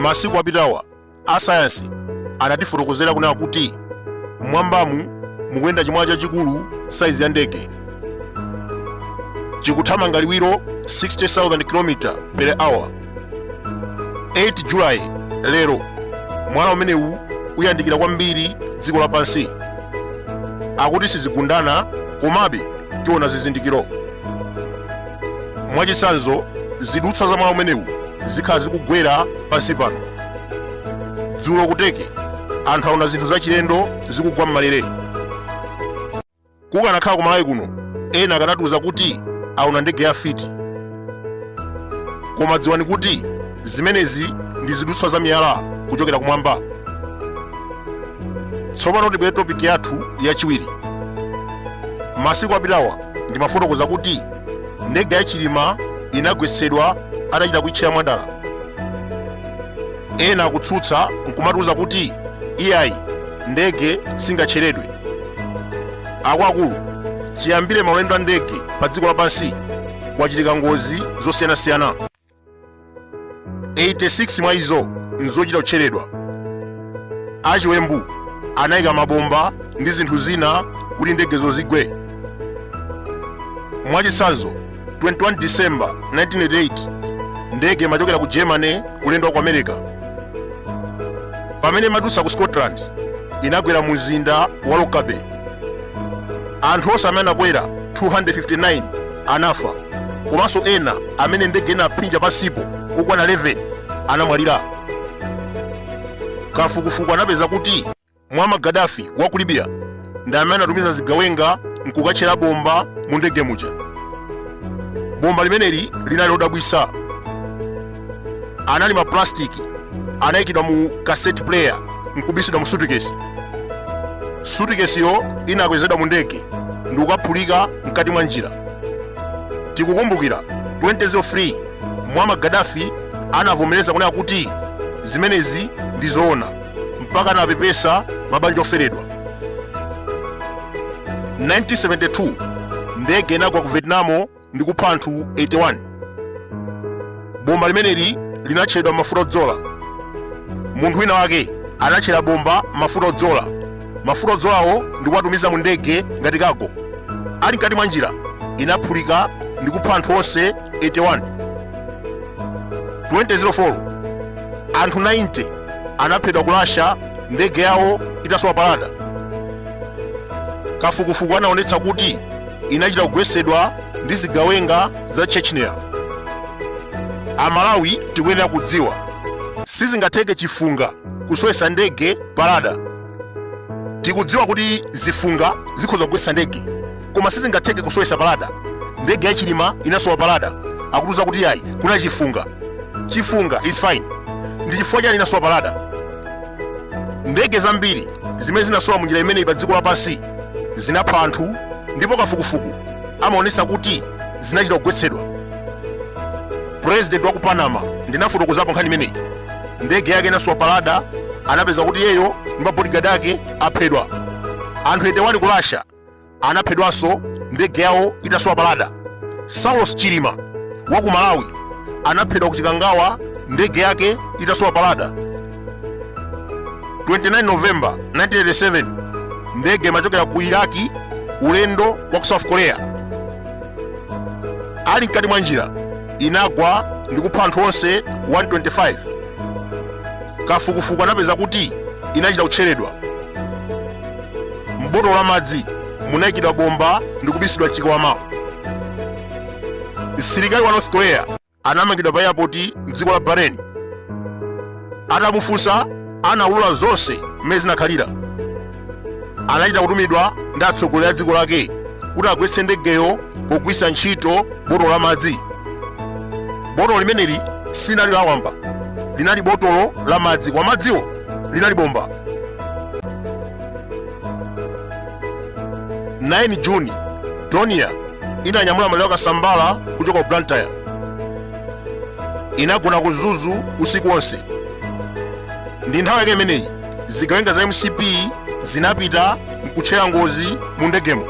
masiku apitawa asayansi anatifotokozera kunena kuti mwambamu mukuyenda chimwala chachikulu saizi ya ndege chikuthamanga liwiro 60,000 km per hour 8 julayi lero mwala umenewu uyandikira kwambiri dziko lapansi akuti sizigundana komabe tiona zizindikiro mwachitsanzo zidutswa za mwala umenewu zikhala zikugwera pansi pano dzulo ku Turkey anthu aona zinthu zachilendo zikugwa m'malere kukanakhala ku malawi kuno ena akanatiuza kuti aona ndege ya fiti koma dziwani kuti zimenezi ndi zidutswa za miyala kuchokera kumwamba tsopano tibwere topiki yathu yachiwiri masiku apitawa ndimafotokoza kuti ndege ya chilima inagwetsedwa atachita kuitchera mwadala ena akutsutsa nkumatiuza kuti iyayi ndege singatcheredwe akuluakulu chiyambire maulendo a ndege pa dziko lapansi kwachitika ngozi zosiyanasiyana 86 mwa izo nzochita kutcheredwa achiwembu anayika mabomba ndi zinthu zina kuti ndegezo zigwe mwachitsanzo 21 December 1988 ndege imachokera ku Germany kulendo wa ku America. Pamene imadutsa ku Scotland inagwera mu mzinda wa Lockerbie. Anthu onse amene anakwera 259 anafa komanso ena amene ndege inaphinja pansipo okwana 11 anamwalira. Kafukufuku anapeza kuti Muammar Gaddafi wa ku Libya ndi amene anatumiza zigawenga nkukatchera bomba mu ndege muja. Bomba limeneli linali lodabwitsa, anali maplastiki anayikidwa mu cassette player nkubisidwa mu sutikesi. Sutikesiyo inakwezedwa mu ndege ndi kukaphulika mkati mwa njira. Tikukumbukira 2003 Muammar Gaddafi anavomereza kunena kuti zimenezi ndi zoona. mpaka anapepesa mabanja oferedwa 1972 ndege inagwa ku vietnam ndi kupha anthu 81 bomba limeneli linatchedwa m'mafuta odzola munthu wina wake anatchera bomba m'mafuta odzola mafuta odzolawo ndi kuwatumiza mu ndege ngati kago ali mkati mwa njira inaphulika ndi kupha anthu onse 81 2004 anthu 90 anaphedwa ku Russia ndege yawo itasowa pa radar. Kafukufuku anaonetsa kuti inachita kugwetsedwa ndi zigawenga za Chechnya. Amalawi tikuyenera kudziwa sizingatheke chifunga kusowetsa ndege pa radar. tikudziwa kuti zifunga zikhoza kugwetsa ndege koma sizingatheke kusowetsa pa radar ndege ya chilima inasowa pa radar akutiuza kuti yayi kuna chifunga chifunga is fine ndi chifukwa chani inasowa pa radar ndege zambiri zimene zinasowa mu njira imeneyi pa dziko lapansi zinapha anthu ndipo kafukufuku amaonetsa kuti zinachita kugwetsedwa purezidenti wa ku panama ndinafotokozapo nkhani imeneyi ndege yake inasowa pa radar anapeza kuti iyeyo ndi mabodigadi ake aphedwa anthu 81 ku russia anaphedwanso ndege yawo itasowa pa radar saulos chilima wa ku malawi anaphedwa ku chikangawa ndege yake itasowa pa radar 29 novemba 1987 ndege imachokera ku iraki ulendo wa ku south korea ali mkati mwa njira inagwa ndi kupha anthu onse 125 kafukufuku anapeza kuti inachita kutcheredwa m'botolo la madzi munayikidwa bomba ndi kubisidwa mchikwama msilikali wa north korea anamangidwa pa airport mdziko la bahrain Atamufunsa anaulula zonse mmene zinakhalira. Anachita kutumidwa ndi atsogoleri a dziko lake kuti agwetse ndegeyo pogwiritsa ntchito botolo la madzi. Botolo limeneli sinali lawamba, linali botolo la madzi koma madziwo linali bomba. 9 Juni, Donia inanyamula maliro a Kasambara kuchoka ku Blantyre. inagona ku mzuzu usiku wonse ndi nthawi yake imeneyi zigawenga za mcp zinapita mkutchera ngozi mu ndegemo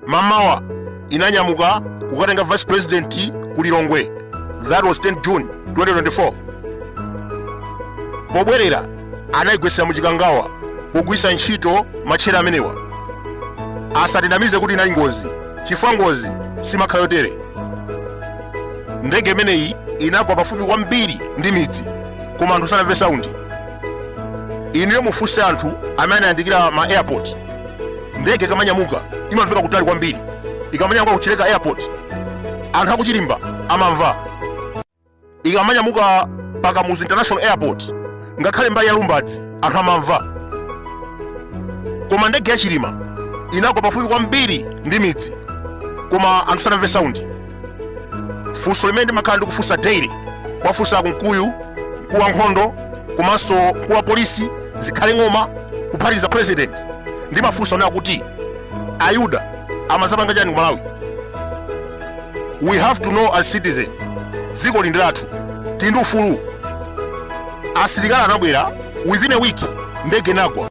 mmamawa inanyamuka kukatenga vice president ku lilongwe that was 10 june 2024 pobwerera anayigwetsera mu chikangawa pogwiritsa ntchito matchera amenewa asatinamize kuti inali ngozi chifukwa ngozi simakhala yotere ndege imeneyi inagwa pafupi kwambiri ndi midzi koma anthu sanamve saundi inuyo mufunse anthu amene anayandikira ma airport ndege ikamanyamuka imamveka kutali kwambiri ikamanyamuka ku chileka airport anthu a ku chirimba amamva ikamanyamuka pa kamuzu international airport ngakhale mbali ya lumbadzi anthu amamva koma ndege ya chilima inagwa pafupi kwambiri ndi midzi koma anthu sanamve saundi funso limene ndimakhala ndikufunsa daily kuwafunsa a Kunkuyu mkulu wa nkhondo komanso mkulu wa polisi zikhale ng'oma kuphatikiza president ndimafunsa kunena kuti ayuda amazapanga chani ku malawi we have to know as citizen dziko ili ndi lathu tili ndi ufulu asilikali anabwera within a week ndege inagwa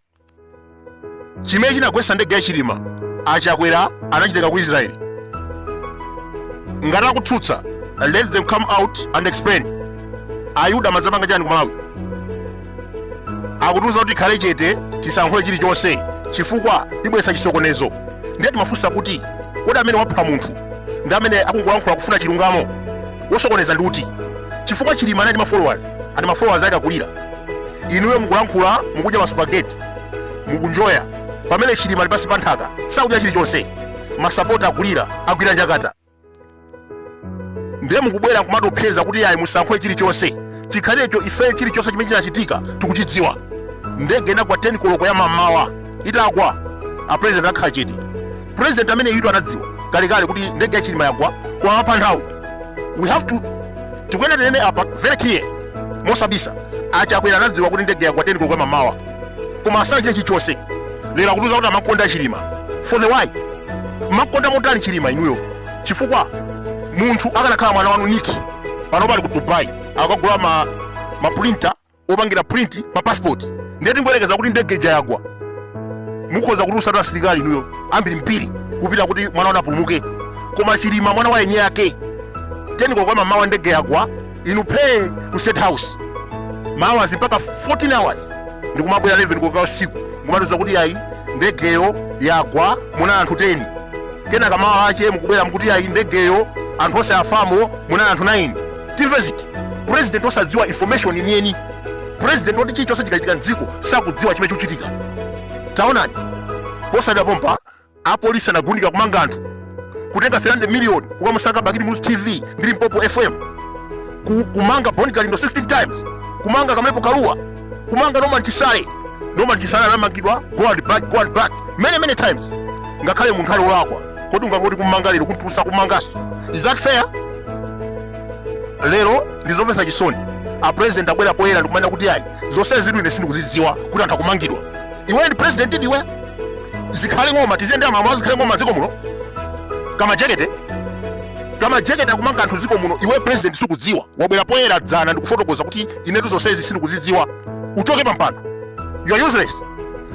chimene chinagwetsa ndege ya chilima achakwera anachitenga ku israeli ngati akutsutsa let them come out and explain ayuda amadzapanga chani ku malawi akutiuza kuti tikhale chete tisalankhule chilichonse chifukwa tibweretsa chisokonezo ndiye timafunsa kuti kodi amene wapha munthu ndi amene akungolankhula kufuna chilungamo wosokoneza ndi uti chifukwa chilima anali ndi mafollowers and mafollowers ake akulira inuyo mukulankhula mukudya masupageti mukunjoya pamene chilima ali pansi pa nthaka sakudya chilichonse masapota akulira agwira njakata ndiye mukubwera kumatopseza kuti ayi musalankhule chilichonse chikhalecho ife chilichonse chimene chinachitika tikuchidziwa ndege inagwa 10 koloko ya mamawa itagwa a president akhala chete president ameneyutu anadziwa kalekale kuti ndege ya chilima yagwa kumamapha nthawi we have to tikuyenera tinene apa very clear mosabisa achakwera anadziwa kuti ndege yagwa 10 koloko ya mamawa koma osachita chilichonse lero akutiuza kuti amakonda chilima for the why mamukonda motani chilima inuyo chifukwa munthu akanakhala mwana wanu niki pano ali ku dubai akagula mapulinta opangira print ma passport ndiye tingoyerekeza kuti ndege ija yagwa mukhoza kutulutsatu asilikali inuyo ambiri mbiri kupita kuti mwana wanu apulumuke koma chilima mwana wa eniake teni koloko ya mamawa ndege yagwa inu phee ku state house mawa mpaka 14 hours ndikumabwera 11 koloko usiku kumatiuza kuti ayi ndegeyo yagwa muna anthu 10 kenaka mawa ache mukubwera mukuti ayi ndegeyo anthu onse afamo muna anthu 9 timve ziti president osadziwa information yeniyeni president woti chilichonse chikachitika mdziko sakudziwa chimene chikuchitika taonani posachedwa pompa Apolisi anagundika kumanga anthu, kutenga 300 million kukamusaka Bakili Muluzi TV ndi Limpopo FM, ku, kumanga Bon Kalindo 16 times, kumanga Kamlepo Kalua, kumanga Norman Chisale. Norman Chisale anamangidwa go and back, go and back many many times, ngakhale munthu ali olakwa. Kodi ungangoti kumanga lero kumutulutsa kumangaso? Is that fair? lero ndizomvetsa chisoni a president abwera poyera ndikumanena kuti ayi zonsezitu ine sindikuzidziwa kuti anthu akumangidwa iwe ndi president ndiwe zikhale ng'oma tiziyendera mamawa zikhale ng'oma dziko muno kama jekete kama jekete akumanga anthu dziko muno iwe president sukudziwa wabwera poyera dzana ndikufotokoza kuti inetu zonsezi sindikuzidziwa uchoke pampando you are useless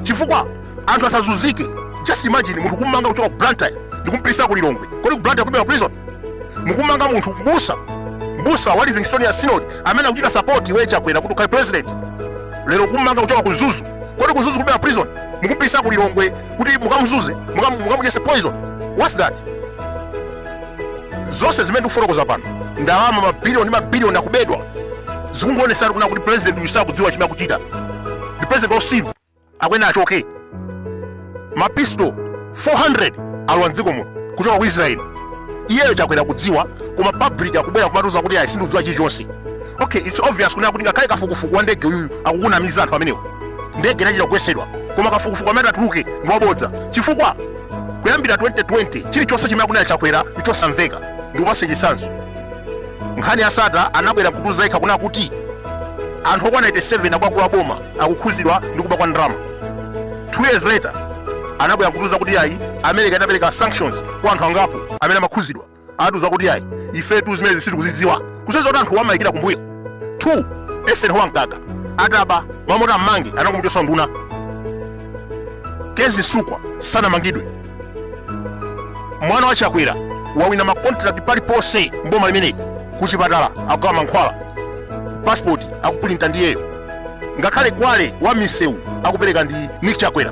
chifukwa anthu asazuzike just imagine munthu kummanga kuchoka ku blantyre ndikumpisa ku lilongwe kodi ku blantyre kulibera prison mukumanga munthu mbusa mbusa wa livingstonia synod amene akuchita sapoti iwe chakwera kuti ukhale president lero ukumanga kuchoka ku mzuzu kodi ku mzuzu kulibera prison mukumpisa ku lilongwe kuti mukamzuze mukam- mukamudyese poison whats that zonse zimene ndikufotokoza pano ndalama mabiliyoni mabiliyoni akubedwa zikungoonesa kunena kuti president uyu sakudziwa chimene akuchita ndi president wausiru akuyenera achoke mapisto 400 alowa mdziko muno kuchoka ku israeli iyeyo chakwera kudziwa koma public akubwera kumatiuza kuti ayi sindikudziwa chilichonse okay its obvious kunena kuti ngakhale kafukufuku wa ndege uyuyu akukunamiza anthu amenewo ndege inachita kugwesedwa koma kafukufuku amene atuluke ndi wabodza chifukwa kuyambira 2020 chilichonse chimene akunena chakwera nchosamveka ndikupase chisanzo nkhani ya sattar anabwera kutiuza yekha kunena kuti anthu okwana 87 akuluakulu a boma akukhuzidwa ndi kuba kwa ndalama 2 years later anabwera kutiuza kuti ayi america inapereka sanctions kwa anthu angapo amene amakhuzidwa anatiuza kuti ayi ifetu zimenezi sitikuzidziwa kusonyeza kuti anthuwa amayikira kumbuyo 2 eisenhower mkaka ataba mmalo moti ammange anangomuchosa unduna kezzie msukwa sanamangidwe mwana wa chakwera wawina makontrakt paliponse mboma limeneli kuchipatala akugawa mankhwala pasipoti akupulinta ndi iyeyo ngakhale kwale wa misewu akupereka ndi nick chakwera